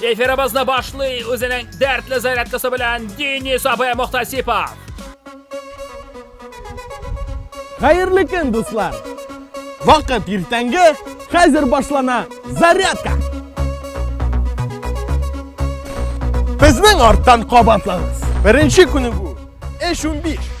Эфирыбызны башлый үзенең дәртле зарядкасы белән Денис абый Мохтасипов. Хәерле көн, дуслар! Вакыт иртәнге, хәзер башлана зарядка! Безнең арттан кабатлаңыз. Беренче көне бу. Эш 15.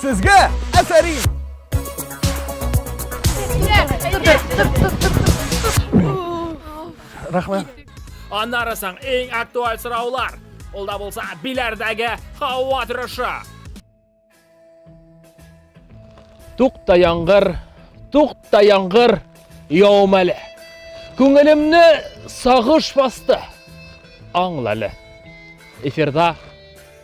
Сезгә әфәрин! Рәхмәт. Аннары соң иң актуаль сораулар. Ул да булса биләрдәге һава торышы. Тукта яңгыр, тукта яңгыр, явым әле. Күңелемне сагыш басты. Аңлалы. Эфирда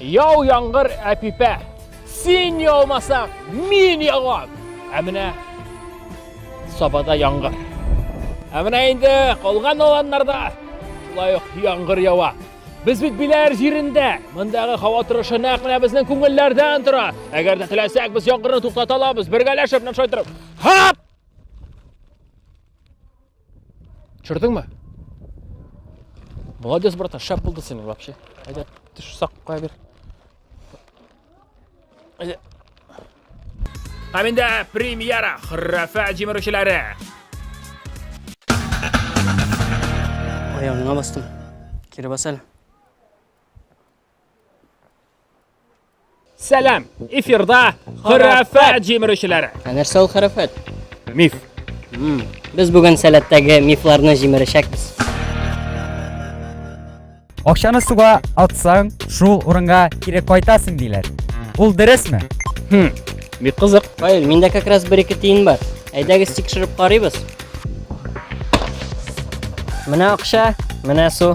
Яу яңгыр әпипә, син яумасаң, мин яуам. Ә менә сабада яңгыр. Ә менә инде калган аланнарда шулай ук яңгыр ява. Без бит биләр җирендә. Мондагы һава торышы нәкъ менә безнең күңелләрдән тора. Әгәр дә теләсәк, без яңгырны туктата алабыз. Бергәләшеп, менә шулай торып. Һап! Төшердең ме? Молодец, братан, шәп булды синең вообще. Әйдә, төш сак куя бир. Әйдә. Һәм инде премьера храфа җимерүчеләре. Аягыңа бастым. Кире бас әле. Сәлам! Эфирда Хөрәфәт җимерешүләре. Ә нәрсә ул хәрәфәт? Миф. Мм. Без бүген сәләттәге мифларны җимерешәкбез. Акчаны суга атсаң, шул урынга кире кайтасың диләр. Ул дөресме? Хм. Бик кызык. Фаил, миндә как раз бер-ике тиен бар. Әйдәгез тикшереп карыйбыз. Менә акча, менә су.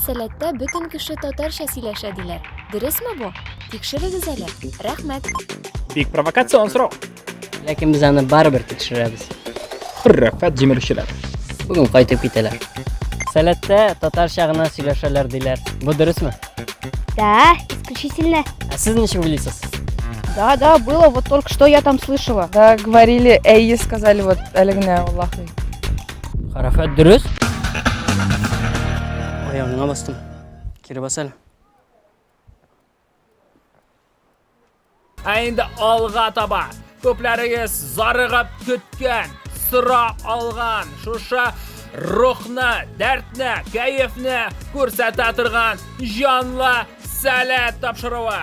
Сәләттә бөтен кеше татарча сөйләшә диләр. Дөресме бу? Тикшерегез әле. Рәхмәт. Бик провокацион сорау. Ләкин без аны барыбер тикшерәбез. Хөррәфәт җимерүчеләр. Бүген кайтып китәләр. Сәләттә татарча гына сөйләшәләр диләр. Бу дөресме? Да, исключительно. Ә сез ничек уйлыйсыз? Да, да, было, вот только что я там слышала. Да, говорили, эй, сказали вот Алигне Аллахи. Харафат дөрес. Аягыңа бастым. Кире бас әле. Ә инде алга таба. Күпләрегез зарыгып көткән, сыра алган, шуша рухны, дәртне, кәефне күрсәтә торган җанлы сәләт тапшыруы.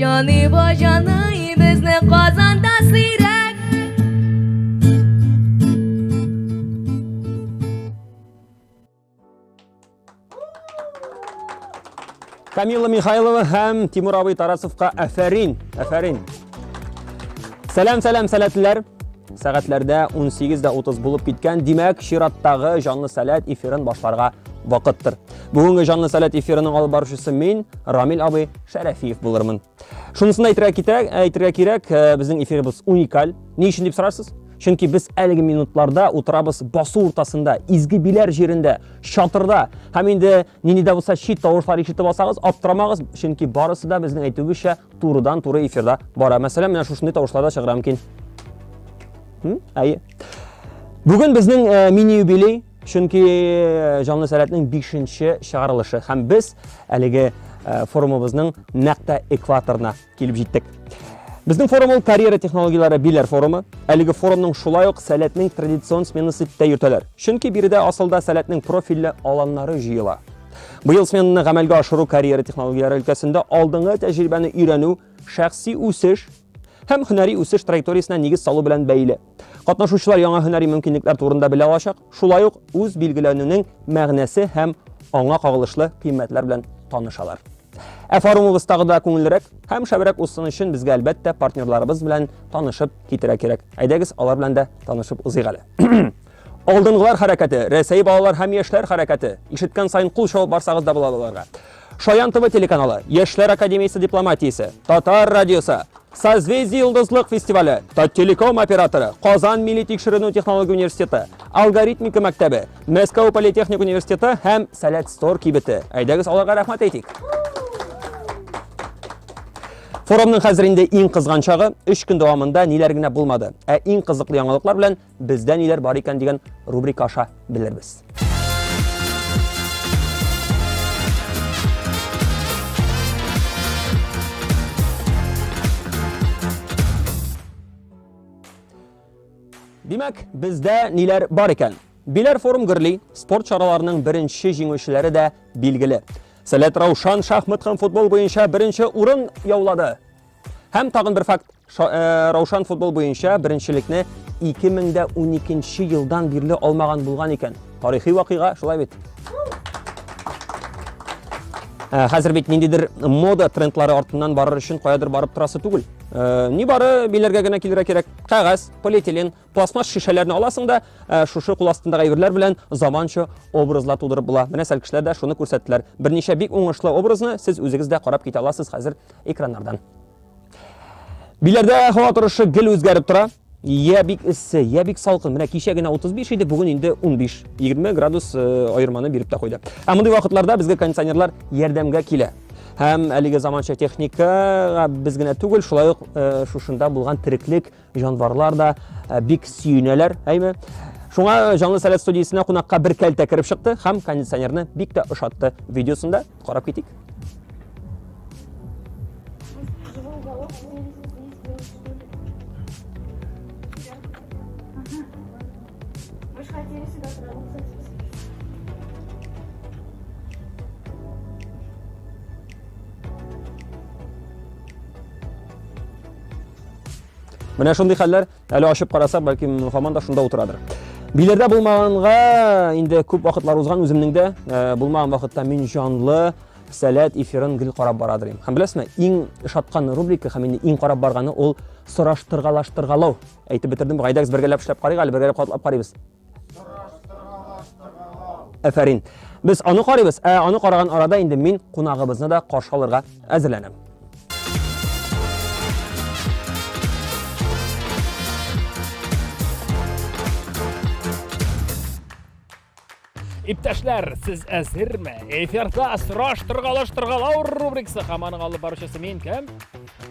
Җаны ба җаны безне Казанда сирәк Камила Михайлова һәм Тимур абый Тарасовка әфәрин, әфәрин. Сәлам, сәлам, сәләтләр. Сәгатьләрдә 18:30 булып киткән, димәк, чираттагы җанлы сәләт эфирын башларга вакыттыр. Бүгенге җанлы сәләт эфирының алып баручысы мин, Рамил абый Шәрәфиев булырмын. Шунысын да әйтергә кирәк, әйтергә кирәк, э, безнең эфирыбыз уникаль. Ни өчен дип сорарсыз? Чөнки без әлеге минутларда утырабыз басу уртасында, изге биләр җирендә, чатырда. Һәм инде нинди дә булса чит тавышлар ишетеп алсагыз, аптырамагыз, чөнки барысы да безнең әйтүебезчә турыдан-туры эфирда бара. Мәсәлән, менә шушындый тавышлар да чыгыра мөмкин. Әйе. Бүген безнең э, мини юбилей Чөнки э, Җанлы сәләтнең 5-нче чыгарылышы һәм без әлеге э, форумыбызның нәкъ тә экваторына килеп җиттек. Безнең форум ул карьера технологияләре билер форумы. Әлеге форумның шулай ук сәләтнең традицион сменасы дип тә йөртәләр. Чөнки биредә асылда сәләтнең профильле аланнары җыела. Быел сменаны гамәлгә ашыру карьера технологияләре өлкәсендә алдыңгы тәҗрибәне өйрәнү, шәхси үсеш һәм һөнәри үсеш траекториясенә нигез салу белән бәйле. Катнашучылар яңа һөнәри мөмкинлекләр турында белә алачак, шулай ук үз билгеләнүнең мәгънәсе һәм аңа кагылышлы кыйммәтләр белән танышалар. Ә форумыбыз тагы да күңеллерәк һәм шәбрәк узсын өчен безгә әлбәттә партнерларыбыз белән танышып китерә кирәк. Әйдәгез, алар белән дә танышып узыйк әле. Алдынгылар хәрәкәте, Рәсәй балалар һәм яшьләр хәрәкәте. Ишеткән саен кул чабып барсагыз да була аларга. Шаян ТВ телеканалы, Яшьләр академиясе дипломатиясе, Татар радиосы, Созвездие йолдызлык фестивале, Таттелеком операторы, Казан милли тикшеренү технология университеты, Алгоритмика мәктәбе, Мәскәү политехник университеты һәм Сәләт Стор кибете. Әйдәгез аларга рәхмәт әйтик. Форумның хәзер инде иң кызган чагы, 3 көн дәвамында ниләр генә булмады. Ә иң кызыклы яңалыклар белән Бездә ниләр бар икән дигән рубрика аша белербез. Димәк, бездә ниләр бар икән? Биләр форум гөрли, спорт чараларының беренче җиңүчеләре дә билгеле. Сәләт Раушан шахмат һәм футбол буенча беренче урын яулады. Һәм тагын бер факт, э, Раушан футбол буенча беренчелекне 2012 елдан бирле алмаган булган икән. Тарихи вакыйга, шулай бит. Э, хәзер бит ниндидер мода трендлары артыннан барыр өчен каядыр барып торасы түгел. Э, Ни бары биләргә генә килергә кирәк. Кәгазь, полиэтилен, Пластмасс шешәләрне аласың да, шушы кул астындагы әйберләр белән заманча образлар тудырып була. Менә сәлкешләр дә шуны күрсәттеләр. Берничә бик уңышлы образны сез үзегез дә карап китә аласыз хәзер экраннардан. Биләрдә һава торышы гел үзгәреп тора. Я бик эссе, я бик салкын. Менә кичә генә 35 иде, бүген инде 15, 20 градус аерманы биреп тә куйды. Ә мондый вакытларда безгә кондиционерлар ярдәмгә килә. Һәм әлеге заманча техникага без генә түгел, шулай ук шушында булган тереклек Җанварлар да бик сөенәләр, әйме? Шуңа Җанлы сәләт студиясенә кунакка бер кәлтә кереп чыкты һәм кондиционерны бик тә ошатты. Видеосында карап китик. Менә шундый хәлләр, әле ачып карасак, бәлки хаман да шунда утырадыр. Билердә булмаганга инде күп вакытлар узган үземнең дә э, булмаган вакытта мин җанлы сәләт эфирын гел карап бара дим. Һәм беләсезме, иң шаткан рубрика һәм инде иң карап барганы ул сораштыргалаштыргалау. Әйтеп бетердем, Гайдакс бергәләп эшләп карыйк әле, бергәләп катлап карыйбыз. Әфәрин. Без аны карыйбыз, ә аны караган арада инде мин кунагыбызны да каршы алырга әзерләнәм. Иптәшләр, сез әзерме? Эфирда сораш торгалаш торгалау рубрикасы һәм аның алып баручысы мин кем?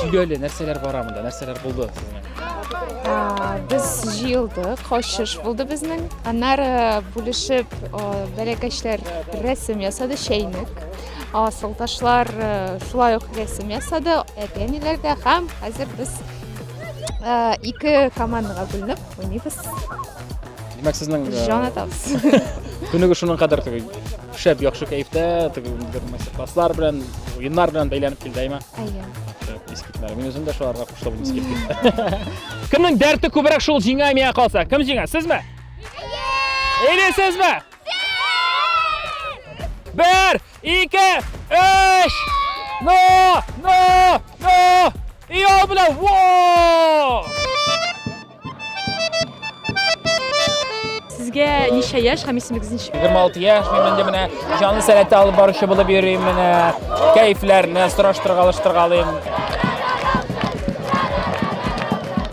Сөйләле, нәрсәләр бара монда, нәрсәләр булды сезнең? Без җыелдык, качыш булды безнең. Аннары бүлешеп бәләкәчләр рәсем ясады, чәйнек. Асылташлар шулай ук рәсем ясады, әти-әниләр дә һәм хәзер без ике командаға бүленеп уйныйбыз. Димәк, сезнең җан атабыз. Күнеге шуның кадәр түгел. Шәп, яхшы кәефтә, теге бер мастер-класслар белән, уеннар белән бәйләнеп килде, әйме? Әйе. Шәп, искитләр. Мин үзем дә шуларга кушылып булмас килде. Кемнең дәрте күбрәк шул җиңә мия калса? Кем җиңә? Сезме? Или сезме? Бер, ике, өч! Но! Но! Но! И ул белән! Во! Сезгә ничә яшь һәм исемегез ничек? 26 яшь, мин инде менә җанлы сәләтә алып баручы булып йөрим, менә кәефләрне сораштырга, алыштыргалыйм.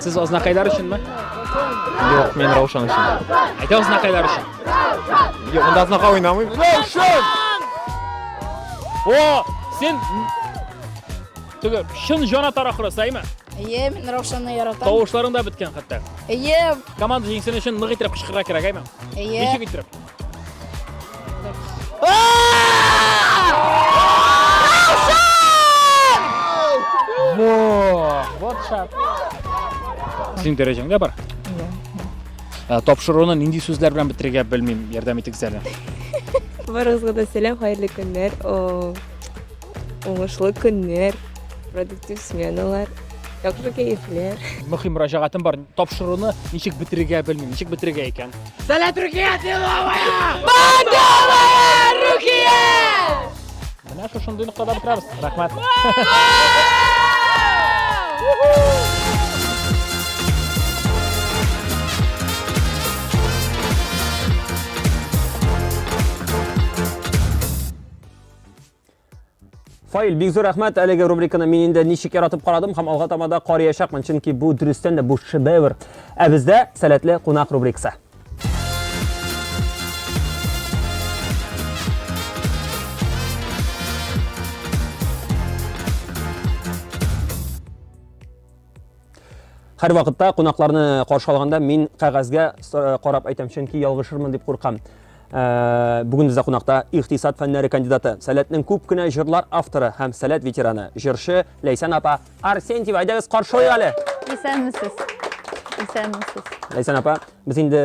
Сез азнакайлар өченме? Юк, мин Раушан өчен. Әйдә азнакайлар өчен. Юк, монда азнака уйнамыйм. Раушан! О, син Теге чын җанатар ахры, сәйме? Әйе, мин Раушанны яратам. Тавышларың да беткән хәтта. Әйе. Команда җиңсен өчен нык итеп кычкырырга кирәк, әйме? Әйе. Ничек итеп? Вот шат. Синең дәрәҗәңдә бар? Иә. Тапшыруны нинди сүзләр белән бетерергә белмим, ярдәм итегез әле. Барыгызга да сәлам, хәерле көннәр. Уңышлы көннәр, продуктив сменалар, яхшы кәефләр. Мөхим мөрәҗәгатем бар. Тапшыруны ничек бетерергә белмим, ничек бетерергә икән. Сәләт Рухия Тиловая! Бандовая Рухия! Менә шушындый ноктада бетерәбез. Рәхмәт. Фаил, бик зур рәхмәт әлеге рубриканы мин инде ничек яратып карадым һәм алга тамада карыячакмын, чөнки бу дөрестән дә бу шедевр. Ә бездә сәләтле кунак рубрикасы. Һәрвакытта кунакларны каршы алганда мин кәгазьгә э, карап әйтәм, чөнки ялгышырмын дип куркам. Э, Бүген бездә кунакта икътисад фәннәре кандидаты, Сәләтнең күп кенә җырлар авторы һәм Сәләт ветераны, җырчы Ләйсән апа Арсентьева. Әйдәгез, каршы алыйк әле. Исәнмесез. Исәнмесез. Ләйсән апа, без инде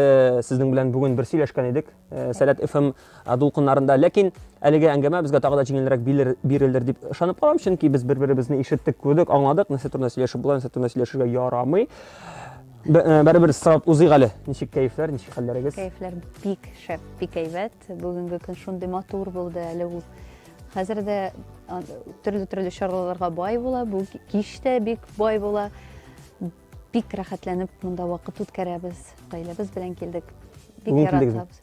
сезнең белән бүген бер сөйләшкән идек. Э, сәләт ФМ э, дулкыннарында. Ләкин әлеге әңгәмә безгә тагы да җиңелрәк бирелер дип ышанып калам, чөнки без бер-беребезне ишеттек, күрдек, аңладык, нәрсә турында сөйләшеп була, нәрсә турында сөйләшергә ярамый. Э, бәребер сорап узыйк әле. Ничек кәефләр, ничек хәлләрегез? Кәефләр бик шәп, бик әйбәт. Бүгенге көн шундый матур булды әле ул. Хәзер дә төрле-төрле чараларга бай була. Бу кич тә бик бай була. Бик рәхәтләнеп монда вакыт үткәрәбез. Гаиләбез белән килдек. Бик Бүген килдегезме? яратабыз.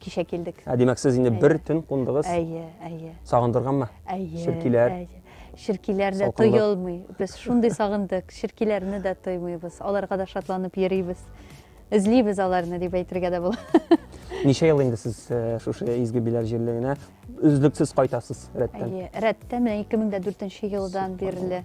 Кичә килдек. Ә димәк, сез инде Әйе. бер төн кундыгыз. Әйе, әйе. Сагындырганмы? Әйе. Черкиләр. әйе. Черкиләр дә Салкынлык. тоелмый. Без шундый сагындык. Черкиләрне дә тоймыйбыз. Аларга да шатланып йөрибез. Эзлибез аларны дип әйтергә дә була. Ничә ел инде сез э, шушы изге биләр җирлегенә өзлексез кайтасыз рәттән? Әйе. Рәттән менә 2004 елдан бирле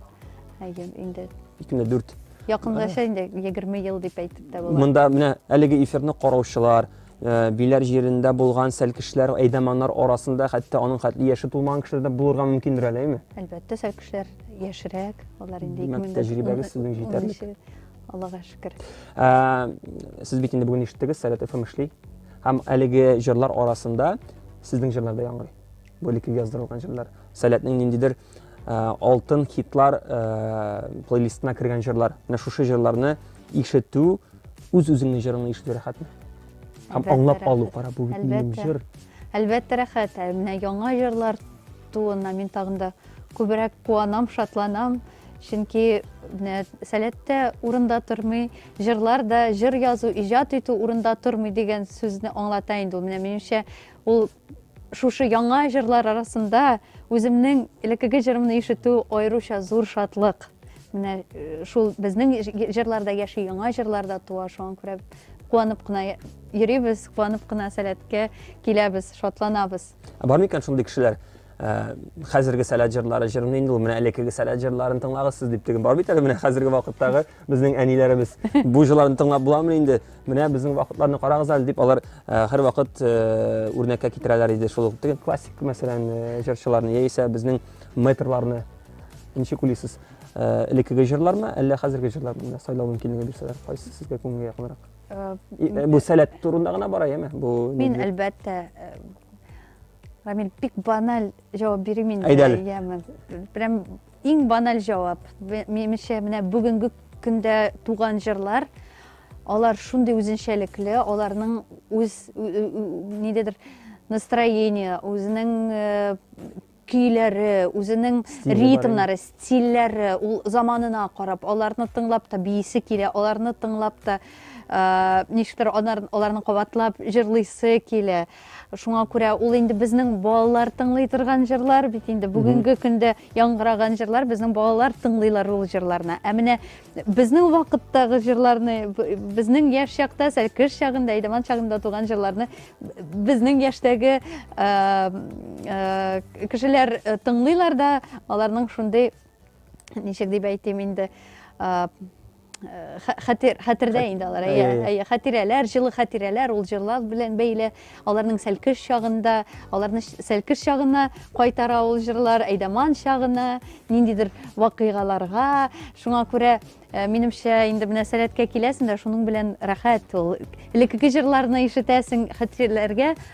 Әйе, инде. Икене дүрт. Якынлаша инде 20 ел дип әйтеп тә була. Монда менә әлеге эфирны караучылар, э, биләр җирендә булган сәлкешләр, әйдәманнар арасында хәтта аның хәтле яше тулмаган кешеләр дә булырга мөмкиндер әле, әйме? Әлбәттә, сәлкешләр яшерәк, алар инде 2000 тәҗрибәгез сезнең җитәрлек. Аллага шөкер. Э, сез бит инде бүген ишеттегез, Сәләт ФМ эшли. Һәм әлеге җырлар арасында сезнең җырлар да яңгырый. Бу элеккеге яздырылган җырлар. Сәләтнең ниндидер алтын хитлар плейлистына кергән җырлар. Менә шушы җырларны ишетү үз үзеңне җырыңны ишетү рәхәтме? Һәм аңлап алу, кара, бу бит минем җыр. Әлбәттә рәхәт. Ә менә яңа җырлар тууына мин тагын да күбрәк куанам, шатланам. Чөнки менә сәләттә урында тормый, җырлар да, җыр язу, иҗат итү урында тормый дигән сүзне аңлата инде ул. Менә минемчә, ул Шушы яңа җырлар арасында үземнең элеккеге җырымны ишетү аеруча зур шатлык. Менә шул безнең җырларда яши, яңа җырларда туа, шуңа күрә куанып кына йөрибез, куанып кына сәләткә киләбез, шатланабыз. Бар микән шундый кешеләр? Ә, хәзерге сәләт җырлары җырын инде ул менә элеккеге сәләт җырларын тыңлагыз сез дип теге бар бит әле менә хәзерге вакыттагы безнең әниләребез бу җырларны тыңлап буламыни инде менә безнең вакытларны карагыз әле дип алар ә, һәрвакыт ә, үрнәккә китерәләр иде шул теге классик мәсәлән ә, җырчыларны яисә безнең мэтрларны ничек уйлыйсыз ә, элеккеге җырлармы әллә хәзерге җырлармы сайлау мөмкинлеге бирсәләр кайсы сезгә күңелгә якынрак ә, бу сәләт турында гына бара яме бу мин әлбәттә Рамил, бик баналь җавап бирим инде. Әйдә әле. Прям иң баналь җавап. Минемчә, менә бүгенге көндә туган җырлар, алар шундый үзенчәлекле, аларның үз нидедер настроение, үзенең э, көйләре, үзенең ритмнары, стильләре, ул заманына карап, аларны тыңлап та биисе килә, аларны тыңлап та э, ничектер аларны кабатлап җырлыйсы килә. Шуңа күрә ул инде безнең балалар тыңлый торган җырлар бит инде бүгенге көндә яңгыраган җырлар безнең балалар тыңлыйлар ул җырларны. Ә менә безнең вакыттагы җырларны, безнең яшь чакта, сәл кыш чагында, Әйдаман чагында туган җырларны безнең яшьтәге кешеләр тыңлыйлар да, аларның шундый ничек дип әйтим инде, хәтер хәтердә инде алар әйе әйе хәтирәләр җылы хәтирәләр ул җырлар белән бәйле аларның сәлкеш чагында аларны сәлкеш чагына кайтара ул җырлар әйдаман чагына ниндидер вакыйгаларга шуңа күрә э, минемчә инде менә сәләткә киләсең дә шуның белән рәхәт ул элеккеге җырларны ишетәсең хәтирәләргә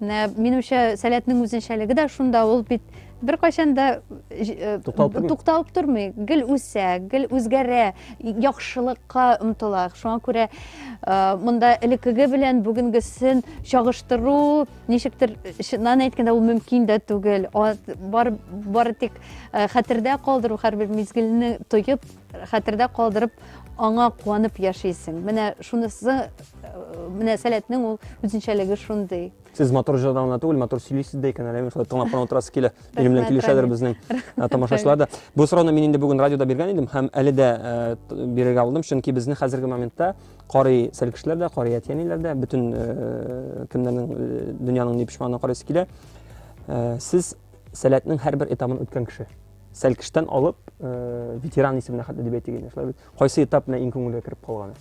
Менә минемчә сәләтнең үзенчәлеге дә шунда, ул бит беркайчан да э, тукталып тормый. тукталып тормый, гел үсә, гел үзгәрә, яхшылыкка омтыла. Шуңа күрә э, монда элеккеге белән бүгенгесен чагыштыру ничектер чыннан әйткәндә ул мөмкин дә түгел. Бар бары тик э, хәтердә калдыру һәрбер мизгелне тоеп Хәтердә калдырып, аңа куанып яшисең. Менә шунысы, менә сәләтнең ул үзенчәлеге шундый. Сез матур җырдан гына түгел, матур сөйлисез дә икән, әле мин шулай тыңлап кына утырасы килә. Минем белән килешәдер безнең э, тамашачылар да. Бу сорауны мин инде бүген радиода биргән идем һәм әле дә э, бирергә булдым, чөнки безне хәзерге моментта карый сәл кешеләр дә, карый әтиәниләр дә, бөтен э, кемнәрнең дөньяның ни пешманына карыйсы килә. Сез сәләтнең һәрбер этабын үткән кеше. Сәлкештән алып, э, ветеран исеменә хәтле дип әйтик инде, шулай бит. Кайсы этап менә иң күңелгә кереп калган?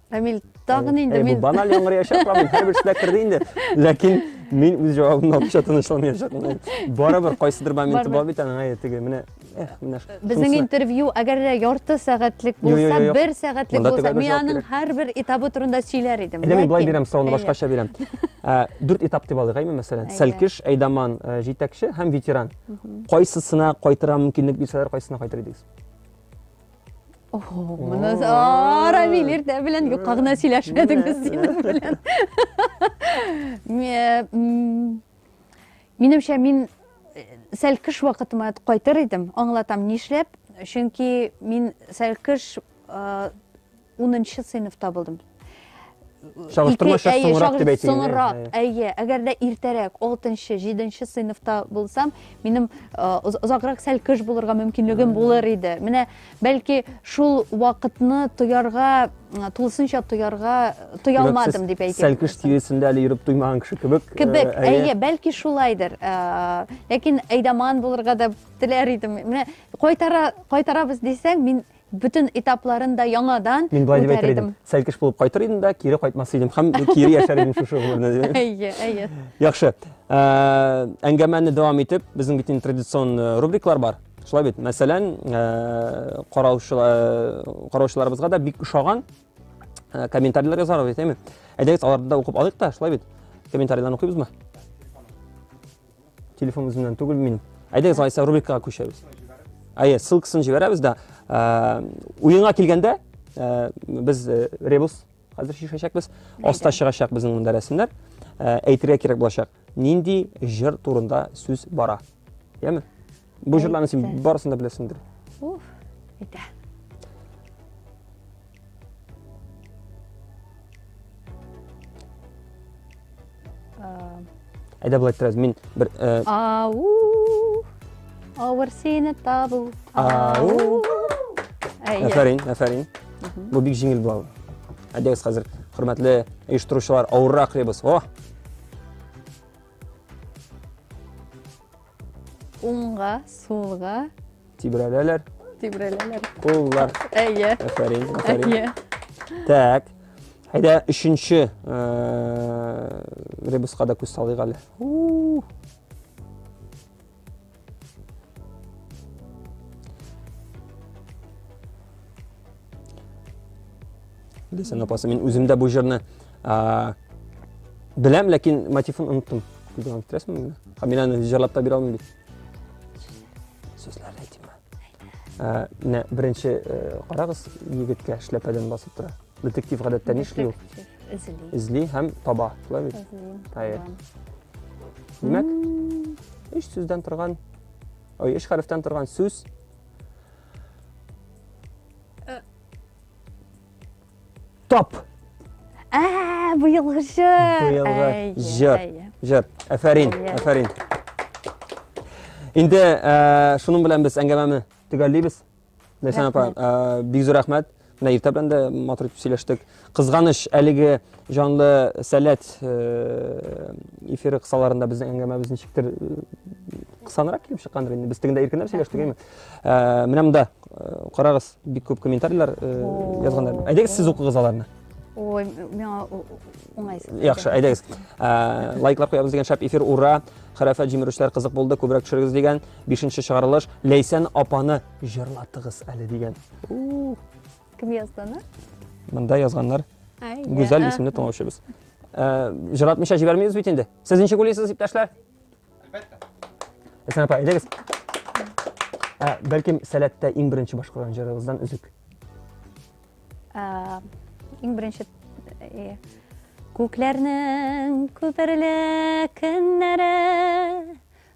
Рамил, тагын инде э, мин... Бу баналь яңгыраячак, Рамил, һәрберсенә керде инде. Ләкин мин үз җавабымны алуча тынычланмаячакмын. Барыбер кайсыдыр моменты бар бит аның, әйтеге, менә Безнең интервью, әгәр дә ярты сәгатьлек булса, бер сәгатьлек булса, мин аның һәрбер этабы турында сөйләр идем. Әйдә мин былай бирәм, сорауны башкача бирәм. Ә, дүрт этап дип алыйк әйме мәсәлән сәлкеш әйдаман э, җитәкче һәм ветеран кайсысына кайтырга мөмкинлек бирсәләр кайсысына кайтыр идегез Моны Рамил иртә белән юкка гына сөйләшмәдегез синең белән. Минемчә мин э, сәлкеш вакытыма кайтыр идем, аңлатам нишләп. Чөнки мин сәлкеш э, Унынчы сыйныфта булдым. Чагыштырма шәп соңрак дип әйтегез. Соңрак, әйе. Әгәр дә иртәрәк, 6-нчы, 7-нче сыйныфта булсам, минем озаграк сәл кыш булырга мөмкинлегем булыр иде. Менә бәлки шул вакытны тоярга, тулысынча тоярга тоя алмадым дип әйтәм. Сәл кыш тирәсендә әле йөреп туймаган кеше кебек. Кебек, әйе, бәлки шулайдыр. Ләкин әйдаман булырга да теләр идем. Менә кайтара, кайтарабыз дисәң, мин бөтен этапларын да яңадан Мин болай дип әйтер идем. Сәлкеш булып кайтыр идем дә, кире кайтмас идем һәм кире яшәр идем шушы гомерне. Әйе, әйе. Яхшы. Ә, әңгәмәне дәвам итеп, безнең бит инде традицион э, рубриклар бар. Шулай бит. Мәсәлән, ә, караучылар караучыларыбызга да бик ошаган ә, комментарийлар язарбыз, әйтәме? Әйдәгез, аларны да укып алыйк та, шулай бит. Комментарийларны укыйбызмы? телефон үземнән түгел мин әйдәгез алайса рубрикага күчәбез әйе ссылкасын жибәрәбез да ә, уенга килгәндә ә, без ә, ребус хәзер шешәчәкбез аста чыгачак безнең монда рәсемнәр ә, әйтергә кирәк булачак нинди җыр турында сүз бара яме Бу җырларны син барысын да беләсеңдер. Уф, әйтә. Әйдә былай торабыз. Мин бер э, Ау! Авыр сине табу. Ау! Афәрин, афәрин. Бу бик җиңел була. Әйдәгез хәзер, хөрмәтле оештыручылар, авыррак ребус. О! Уңга, сулга. Тибрәләләр. Тибрәләләр. Куллар. Әйе. Әфәрин, әфәрин. Әйе. Так. Әйдә, өченче ребуска да күз салыйк әле. Белсәң, апасы, мин үзем дә бу җырны беләм, ләкин мотивын оныттым. Күзгә китерәсең мені? Һәм мин аны җырлап та бирә алмыйм бит. Сүзләрне әйтимме? Менә беренче карагыз, егеткә шляпадан басып тора. Детектив гадәттә нишли ул? Эзли. Эзли һәм таба, шулай бит? Хәер. Димәк, өч сүздән торган, ой, өч хәрефтән торган сүз Э. Топ. Ә, быелгы җыр. Быелгы җыр. Җыр. Әфәрин, әфәрин. Инде э, шуның белән без әңгәмәне төгәллибез. Ләйсән апа, э, бик зур рәхмәт. Менә иртә белән дә матур итеп сөйләштек. Кызганыч, әлеге җанлы сәләт э, эфиры кысаларында безнең әңгәмәбез ничектер э, кысанрак килеп чыккандыр инде. Без тегендә иркенләп сөйләштек, әйме? Э, Менә монда э, карагыз, бик күп комментарийлар э, язганнар. Әйдәгез, сез укыгыз аларны. Ой, миңа у- у- уңайсыз. Яхшы, әйдәгез. Ә, Лайклар куябыз дигән шәп эфир, ура! Хәрәфәт җимерешләр кызык булды, күбрәк төшерегез дигән. Бишенче чыгарылыш. Ләйсән апаны җырлатыгыз әле дигән. Кем язды аны? Монда язганнар Гүзәл исемле тыңлаучыбыз. Э, Җыратмыйча җибәрмибез бит инде. Сез ничек уйлыйсыз, иптәшләр? Әлбәттә. Әсән апа, әйдәгез. Ә, бәлкем сәләттә иң беренче башкарган җырыгыздан өзек. Ә, иң беренче э, Күкләрнең күперле көннәре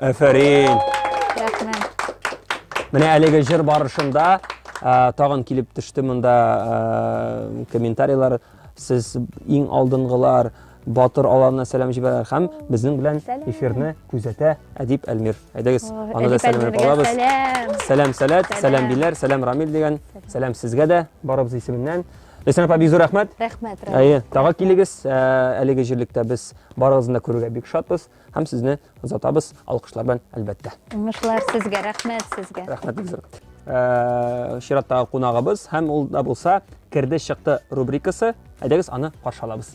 Әфәрин! Рәхмәт. Менә әлеге җыр барышында ә, тагын килеп төште монда ә, комментарийлар. Сез иң алдынгылар, батыр аларына сәлам җибәрәләр һәм безнең белән эфирны күзәтә Әдип Әлмир. Әйдәгез, аны да сәламләп алабыз. Сәлам, сәләт, сәлам Биләр, сәлам Рамил дигән. Сәлам сезгә дә барыбыз исеменнән. Ләйсән апа, бик зур рәхмәт. Рәхмәт, рәхмәт. Әйе, тагы килегез. Ә, әлеге җирлектә без барыгызны да күрергә бик шатбыз. Һәм сезне озатабыз алкышлар белән әлбәттә. Уңышлар сезгә, рәхмәт сезгә. Рәхмәт бик зур. Э, чираттагы кунагыбыз һәм ул да булса керде чыкты рубрикасы. Әйдәгез аны каршы алабыз.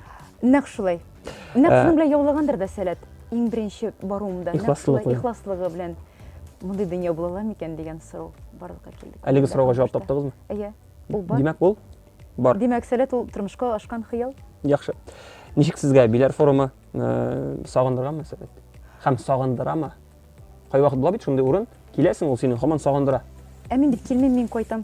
Нәкъ шулай. Нәкъ шуның белән яулагандыр да сәләт. Иң беренче баруымда. Ихласлыгы. Ихласлыгы белән. Мондый дөнья була ала микән дигән сорау барлыкка килде. Әлеге сорауга җавап таптыгызмы? Әйе. Ул бар. Димәк, ул бар. Димәк, сәләт ул тормышка ашкан хыял. Яхшы. Ничек сезгә биләр форумы сагындырганмы сәләт? Һәм сагындырамы? Кайвакыт була бит шундый урын, киләсең, ул сине һаман сагындыра. Ә мин бит килмим, мин кайтам.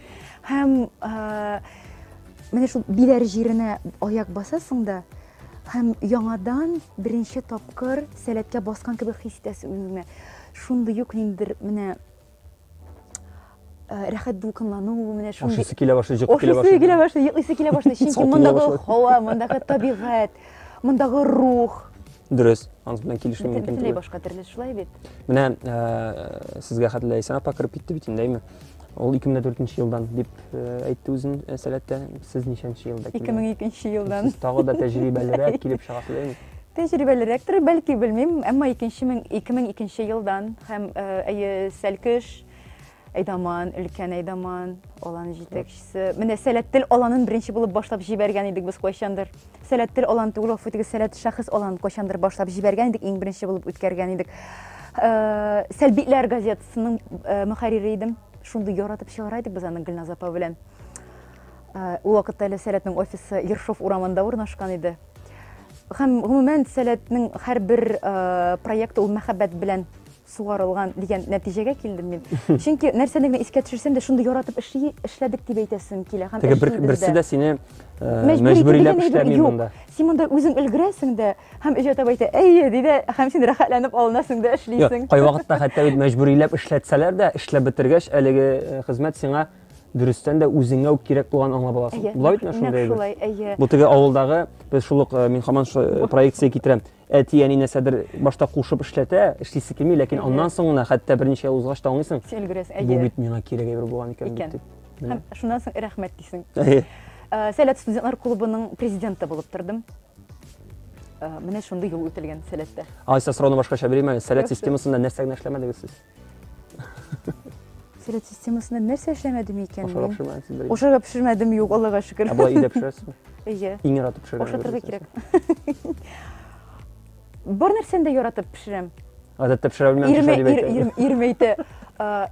Һәм менә шул биләр җиренә аяк басасың да, һәм яңадан беренче тапкыр сәләткә баскан кебек хис итәсең үзеңне. Шундый юк ниндидер менә Э, рәхәт дулкынлану менә шундый ашыйсы килә башлый җыгып килә башлый килә башлый йоклыйсы килә башлый чөнки мондагы һава мондагы табигать мондагы рух дөрес анысы белән килешү мөмкин бөтенләй башка төрле шулай бит менә э, сезгә хәтле ләйсән апа кереп китте бит инде әйме Ул 2004 елдан дип әйтте үзен сәләттә. Сез ничәнче елда килгән? 2002 елдан. Сез тагы да тәҗрибәлерәк килеп чыгасыз, әйме? Тәҗрибәлерәктер, бәлки, белмим, әмма 2002 елдан һәм әйе, Сәлкеш, Әйдаман, өлкән Әйдаман, алан җитәкчесе. Менә Сәләттел аланын беренче булып башлап җибәргән идек без кайчандыр. Сәләттел алан түгел, гафу итегез, Сәләт шәхес алан кайчандыр башлап җибәргән идек, иң беренче булып үткәргән идек. Сәлбитләр газет Сының мөхәррире идем. Шундый яратып чыгара идек без аны Гөлназ апа белән. Ул вакытта әле Сәләтнең офисы Ершов урамында урнашкан иде. Һәм гомумән Сәләтнең һәрбер проекты ул мәхәббәт белән сугарылган дигән нәтиҗәгә килдем мин. Чөнки нәрсәне генә искә төшерсәм дә шундый яратып эшли, эшләдек дип әйтәсем килә. Һәм Теге бер, берсе дә сине мәҗбүриләп эшләми монда. Син монда үзең өлгерәсең дә, Һәм өйгә таба әйтә, әйе, ди дә, һәм син рәхәтләнеп алынасың да эшлисең. Кай вакытта хәтта бит мәҗбүриләп эшләтсәләр дә, эшләп бетергәч, әлеге э, хезмәт сиңа дөрестән дә үзеңә үк кирәк булган аңлап аласың. Әйе, Була бит шундый әйбер. Шулай, әйе. Бу теге авылдагы, без шул ук э, мин хаман шул э, проекция китерәм. Әти әни нәрсәдер башта кушып эшләтә, эшлисе килми, ләкин аннан соң гына хәтта берничә ел узгач та аңлыйсың. Син өлгерәсең, әйе. Бу бит миңа кирәк әйбер булган икән бит дип. Һәм шуннан соң рәхмәт дисең. Әйе. Сәләт студентлар клубының президенты булып тордым. Э, менә шундый юл үтелгән сәләттә. Айса сорауны башкача бирим әле. Сәләт системасында нәрсә генә эшләмәдегез сез? Сәләт системасында нәрсә эшләмәдем икән Ашарга пешермәдегез бер. Ашарга пешермәдем, юк, Аллага шөкер. Ә болай өйдә пешерәсезме? Әйе. Иң яратып пешергән. Ашатырга кирәк. Бар нәрсәне дә яратып пешерәм. Гадәттә пешерә белмәм, пешерә дип әйтә. Ирем әйтә.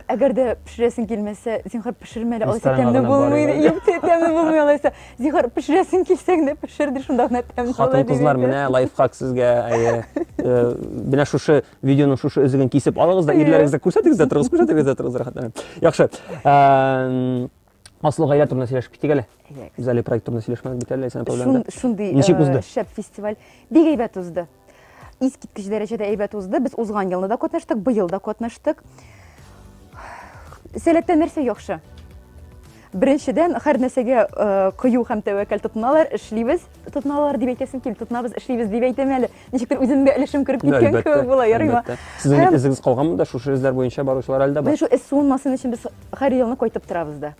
Әгәр дә пешерәсең килмәсә, зинхар пешермә әле, алайса тәмле булмый. Юк, тәмле булмый алайса. Зинхар пешерәсең килсә генә пешер ди, шунда гына тәмле була. Хатын-кызлар, менә лайфхак сезгә. Менә шушы видеоның шушы өзеген кисеп алыгыз да, ирләрегезгә күрсәтегез дә торыгыз, күрсәтегез дә торыгыз рәхәтләнеп. Яхшы. Аслы гаилә турында сөйләшеп китик әле. Без әле проект турында сөйләшмәдек бит әле, Ләйсән проблема. Шундый Ничек э, узды? Шәп фестиваль. Бик әйбәт узды. Искиткеч дәрәҗәдә әйбәт узды. Без узган елны да катнаштык, быел да катнаштык. Сәләттән нәрсә яхшы? Беренчедән, һәр нәрсәгә э, кыю һәм тәвәккәл тотыналар, эшлибез. тотыналар дип әйтәсем килми тотынабыз эшлибез дип әйтәм әле ничектер үземнең дә өлешем кереп киткән кебек була ярыйма сезнең бит эзегез калганмы да шушы эзләр буенча баручылар әле дә бар шул эз суынмасын өчен без һәр елны кайтып торабыз да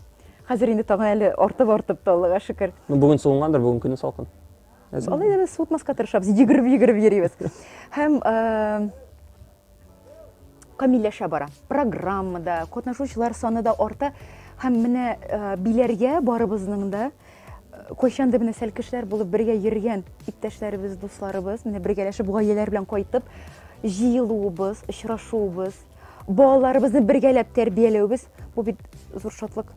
хәзер инде тагын әле артып артып та аллага шөкер ну бүген суынгандыр бүген көне салкын алай да без суытмаска тырышабыз йөгереп йөгереп йөрибез һәм камилләшә бара. Программа да, катнашучылар саны да арта. Һәм менә э, биләргә барыбызның да э, кайчандыр менә сәл кешеләр булып бергә йөргән иптәшләребез, дусларыбыз, менә бергәләшеп гаиләләр белән кайтып җыелуыбыз, очрашуыбыз, балаларыбызны бергәләп тәрбияләүебез бу бит зур шатлык.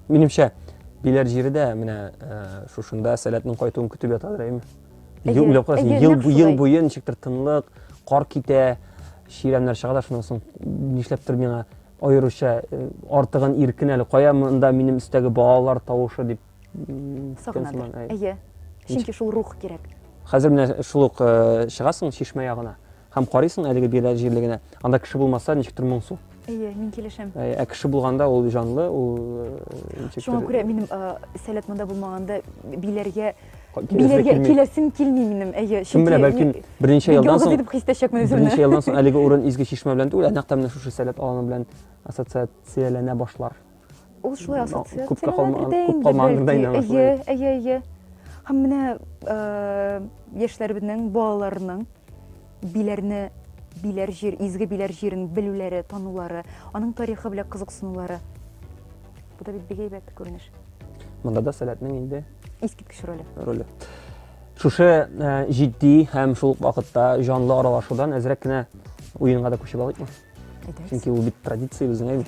Минемчә, биләр җире дә менә э, шушында сәләтнең кайтуын көтеп ятадыр, әйме? Әйе, Ел уйлап әйе, ел, нәкъ бу- ел шулай. буе ничектер тынлык, кар китә, чирәмнәр чыга да шуннан соң нишләптер миңа аеруча э, артыгын иркен әле кая монда минем өстәге балалар тавышы дип м, көткән сыман, әй. Әйе. Чөнки шул рух кирәк. Хәзер менә шул ук э, чыгасың чишмә ягына. Һәм карыйсың әлеге бирә җирлегенә. Анда кеше булмаса, ничектер моңсу. Әйе, мин килешәм. Ә, ә кеше булганда ул җанлы, ул э, ничектер. Шуңа күрә минем э, сәләт монда булмаганда биләргә биләргә киләсем килми минем. Әйе, чөнки менә бәлки берничә елдан соң дип хис итәчәкмен үземне. Берничә елдан соң әлеге урын изге чишмә белән түгел, ә нәкъ менә шушы сәләт аланы белән ассоциацияләнә башлар. Ул шулай ассоциацияләнә бирде инде. Күп калмаган гырда инде. Әйе, әйе, әйе. Һәм менә э, яшьләребезнең, балаларның биләрне биләр җир, изге биләр җирен белүләре, танулары, аның тарихы белән кызыксынулары. Бу да бит бик әйбәт күренеш. Монда да сәләтнең инде искиткеч роле. Роле. Шушы э, җитди һәм шул вакытта җанлы аралашудан әзрәк кенә уенга да күчеп алыйкмы? чөнки ул бит традиция безнең әйме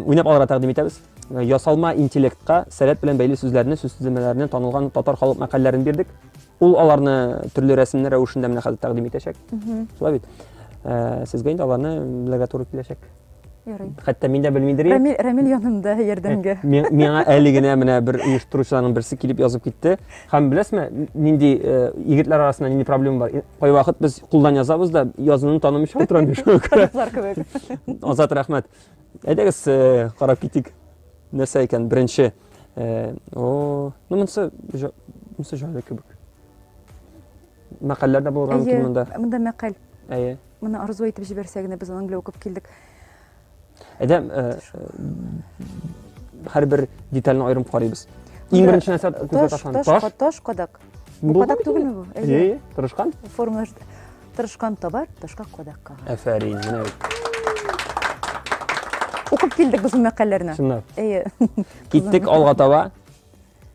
уйнап алырга тәкъдим итәбез ясалма интеллектка сәләт белән бәйле сүзләрне сүз төземнәренә танылган татар халык мәкальләрен бирдек ул аларны төрле рәсемнәр рәвешендә менә хәзер тәкъдим итәчәк шулай бит сезгә инде аларны белергә туры киләчәк Ярый. Хәтта мин дә белмидер идем. Рамил, Рамил янымда ярдәмгә. Э, миңа әле генә менә бер оештыручыларның берсе килеп язып китте. Һәм беләсме, нинди э, егетләр арасында нинди проблема бар? Э, кайвакыт без кулдан язабыз да, язуны танымыйча утырам мин шуңа күрә. Азат рәхмәт. Әйдәгез, карап китик. Нәрсә икән беренче? О, ну монсы монсы җайлы кебек. Мәкальләр дә булырга мөмкин монда. Әйе, монда мәкаль. Әйе. Моны арзу итеп җибәрсә генә без аның белән укып килдек. Әйдәм, һәрбер детальне аерым карыйбыз. Иң беренче нәрсә күзгә ташланды. Таш, таш, кадак. Бу кадак түгелме бу? Әйе, тырышкан. Формалаш тырышкан табар, ташка кадак кага. Афәрин, менә бит. Укып килдек без бу мәкалләрне. Чынлап. Әйе. Киттек алга таба.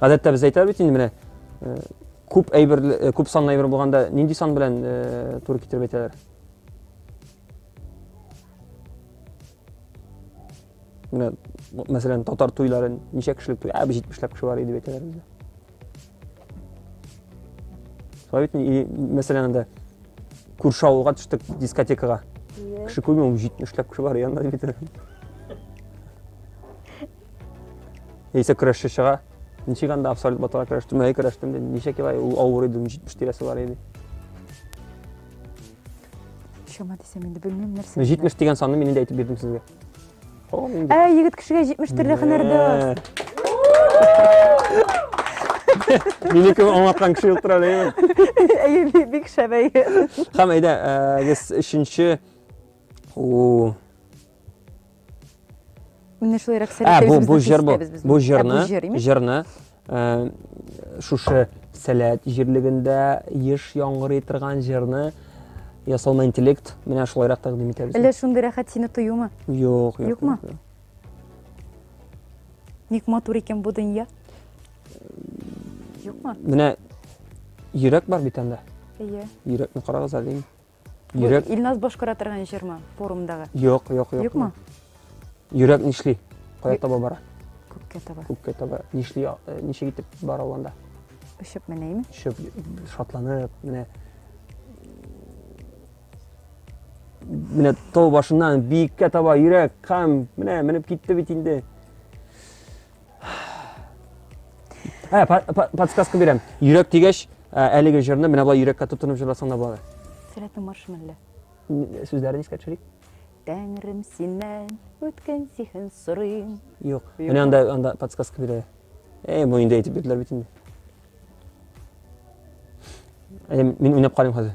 Гадәттә без әйтәбез бит инде менә э, күп әйбер э, күп санлы әйбер булганда нинди сан белән э, туры китереп әйтәләр? Менә мәсәлән татар туйларын ничә кешелек туй? Ә бу 70 ләп кеше бар иде әйтәләр бездә. Шулай бит мәсәлән анда күрше авылга төштек дискотекага. Кеше күрмәү 70 ләп кеше бар янда дип әйтәләр. Яисә көрәшче чыга. Ничек анда абсолют баталар көрәштем, әй көрәштем, ничек елай ул авыр иде, 70 тирәсе бар иде. Чама дисәм инде белмим нәрсә. 70 дигән санны мин инде әйтеп бирдем сезгә. Ә, егет кешегә 70 төрле һөнәр дә. Мине кем аңлаткан кеше юктыр әле. Әйе, бик шәп әйе. Хәм әйдә, без э, өченче Менә шулай рәхсәләр. Ә бу бу җыр бу. Бу җырны, җырны э, шушы сәләт җирлегендә еш яңгырый торган җырны ясалма интеллект менә шулайрак тәкъдим итәбез. Әллә шундый рәхәт сине тоюмы? Юк, юк. Юкмы? Ник матур икән бу дөнья? Юкмы? Менә йөрәк бар бит анда. Әйе. Йөрәкне карагыз әле. Йөрәк... Бу Илназ башкара торган җырмы форумдагы? Юк, юк, юк. Юкмы? Йөрәк нишли? Кая таба бара? Күккә таба. Күккә таба. Нишли, э, ничек итеп бара ул анда? Очып менәйме? Очып, шатланып, менә менә тау башыннан биеккә таба йөрәк һәм менә менеп китте бит инде. Ә, подсказка бирәм. Йөрәк дигәч, әлеге җырны менә болай йөрәккә тотынып җырласаң да була. Сәләтнең маршы мәллә. Сүзләрен искә төшерик. Тәңрем синнән үткен сихен сорыйм. Юк. Менә анда анда подсказка бирә. Эй, бу инде әйтеп бирделәр бит инде. Мин уйнап карыйм хәзер.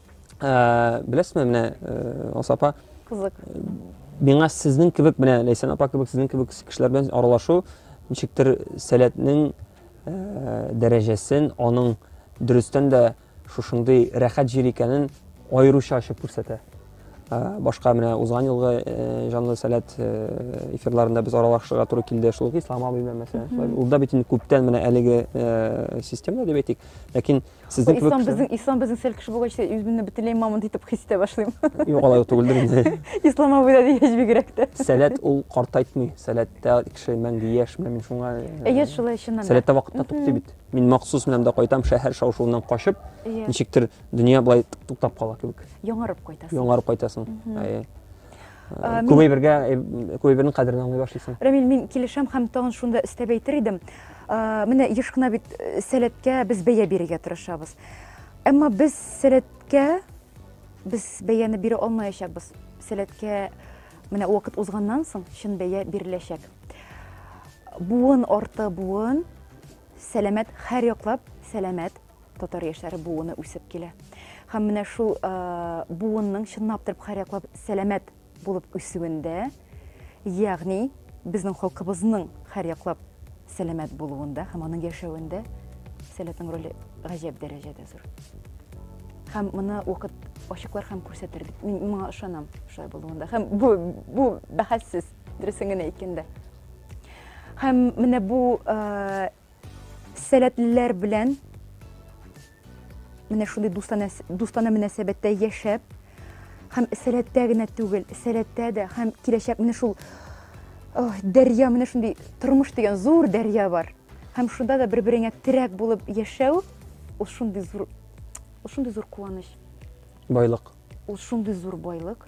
Ә, беләсезме, менә э, Алсу апа, Кызык. миңа сезнең кебек менә Ләйсән апа кебек сезнең кебек кешеләр белән аралашу ничектер сәләтнең э, дәрәҗәсен, аның дөрестән дә шушындый рәхәт җир икәнен аеруча ачып күрсәтә. Ә, башка менә узган елгы э, җанлы сәләт э, эфирларында без аралашырга туры килде. Шул ук Ислам абый белән мәсәлән. Шулай. Ул да бит инде күптән менә әлеге э, системада дип әйтик. Ләкин Сезнең кебек ислам безнең ислам безнең сәл кеше булгач үземне бөтенләй мамонт итеп хис итә башлыйм. Юк, алай түгелдер инде. Ислам абыйда дигәч бигрәк тә. Сәләт ул картайтмый. Сәләттә кеше мәңге яшь, менә мин шуңа. Әйе, шулай чыннан да. Сәләттә вакытта туктый бит. Мин махсус менәм дә кайтам шәһәр шау-шуыннан качып, ничектер дөнья былай туктап кала кебек. Яңарып кайтасың. Яңарып кайтасың. Әйе. Ә, мин... Күбәйбергә, күбәйбернең кадерен аңлый башлыйсың. Рамил, мин килешәм һәм тагын шунда өстәп әйтер идем. Ә, менә еш кына бит э, сәләткә без бәя бирергә тырышабыз. Әмма без сәләткә без бәяне бирә алмаячакбыз. Сәләткә менә вакыт узганнан соң чын бәя биреләчәк. Буын арты буын сәламәт һәр яклап сәламәт татар яшьләре буыны үсеп килә. Һәм менә шул буынның чынлап торып хәрәклап сәламәт булып үсүендә, ягъни безнең халкыбызның хәрәклап сәламәт булуында һәм аның яшәвендә сәләтнең роле гаҗәп дәрәҗәдә зур. Һәм моны вакыт ачыклар һәм күрсәтер бит. Мин моңа ышанам шулай булуында. Һәм бу бу бәхәссез дөресен генә әйткәндә. Һәм менә бу Сәләтлеләр белән менә шундый дустана, дустана мөнәсәбәттә яшәп, һәм сәләттә генә түгел, сәләттә дә һәм киләчәк менә шул ох, дәрья, менә шундый тормыш дигән зур дәрья бар. Һәм шунда да бер-береңә терәк булып яшәү, ул шундый зур, ул шундый зур куаныч. Байлык. Ул шундый зур байлык.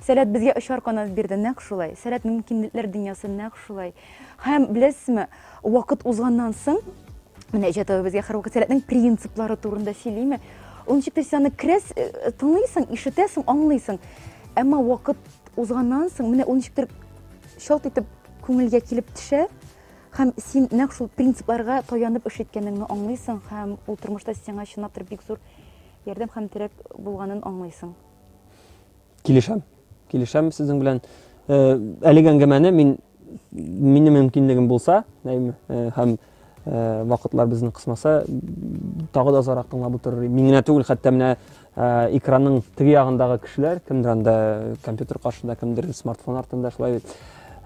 Сәләт безгә очар канат бирде, нәкъ шулай. Сәләт мөмкинлекләр дөньясы нәкъ шулай. Һәм беләсезме, вакыт узганнан соң, менә Җәтәве безгә һәрвакыт сәләтнең принциплары турында сөйлиме, ул ничек тез аны керәс, э, э, тыңлыйсың, ишетәсең, аңлыйсың. Әмма вакыт узганнан соң, менә ул ничектер шалт итеп күңелгә килеп төшә, һәм син нәкъ шул принципларга таянып эш иткәнеңне аңлыйсың һәм ул тормышта сиңа чынлап бик зур ярдәм һәм терәк булганын аңлыйсың. Килешәм. Килешәм сезнең белән. Э, әлеге әңгәмәне мин минем мөмкинлегем булса, әйме, э, һәм э, вакытлар безне кысмаса, тагы да озарак тыңлап утырыр. Мин генә түгел, хәтта менә экранның теге ягындагы кешеләр, кемдер анда компьютер каршында, кемдер смартфон артында шулай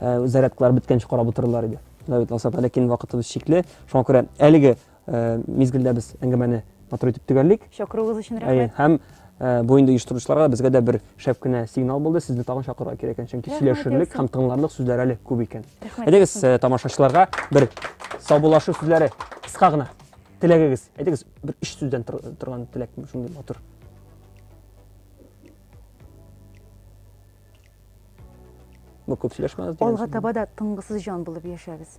зарядкалар беткәнче карап утырырлар иде. Давид Алсап, ләкин вакытыбыз чикле. Шуңа күрә әлеге мизгелдә без әңгәмәне матур итеп төгәллик. Чакыруыгыз өчен рәхмәт. Әйе, һәм э, бу инде оештыручыларга безгә дә бер шәп кенә сигнал булды. Сезне тагын чакырырга кирәк икән, чөнки сөйләшерлек һәм тыңларлык сүзләр әле күп икән. Әйдәгез, э, тамашачыларга бер саубуллашу сүзләре кыска гына. Теләгегез, әйдәгез, бер өч сүздән торган теләк шундый матур. Бу күп сөйләшмәгез. Алга таба да тыңгысыз җан булып яшәгез.